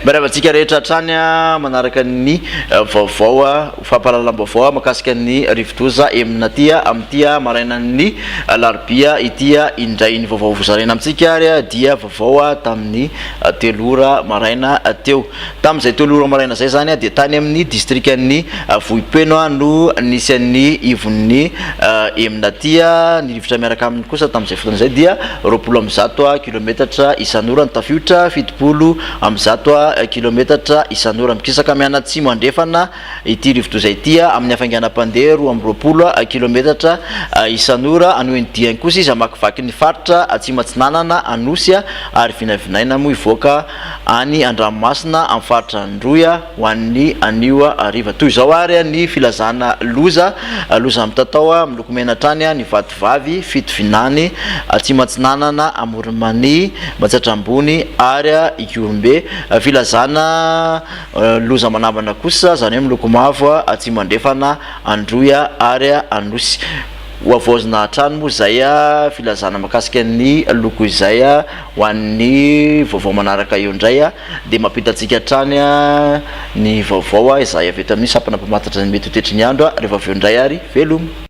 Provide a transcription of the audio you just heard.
Mirava antsika rehetra hatrany manaraka ny eh, vaovao eh, fampahalalam-baovao makasika ny rivodoza emina aty eh, amin'ity marainan'ny larobia ity indray ny vaovao vozaraina amintsika ary dia vaovao tamin'ny telo ora maraina teo. Tamin'izay telo ora maraina izay izany dia tany amin'ny distrikan'ny Vohipeno no nisy an'ny ivon'ny Emnati. Ny rivotra miaraka aminy kosa tamin'izay fotoana izay dia roapolo amby zato kilometatra isan'ora ny tafiotra, fitopolo amby zato kilometatra isan'ora. Mikisaka mianatsimo andrefana ity rivodoza ity amin'ny hafainganam-pandeha roa amby roapolo kilometatra isan'ora. Hanohy ny diany kosa izy hamakivaky ny faritra Atsimo Atsinanana, Anosy ary vinavinaina moa hivoaka any an-dranomasina amin'ny faritra Androy ho an'ny anio hariva. Toy izao ary ny filazana loza, loza mitatao miloko mena hatrany ny vatovavy, Fitovinany, Atsimo-Atsinanana, Amoron'i-Mania, Matsiatra-Ambony ary Ihorombe. Filazana loza manambana kosa, izany hoe miloko mavo, Atsimo-Andrefana, Androy ary Anosy. Ho havaozina hatrany moa izay filazana mahakasika ny loko izay ho an'ny vaovao manaraka eo indray dia mampita antsika hatrany ny vaovao izay avy eto amin'ny sampana mpamantatra ny mety ho toetry ny andro rehefa avy eo indray ary veloma.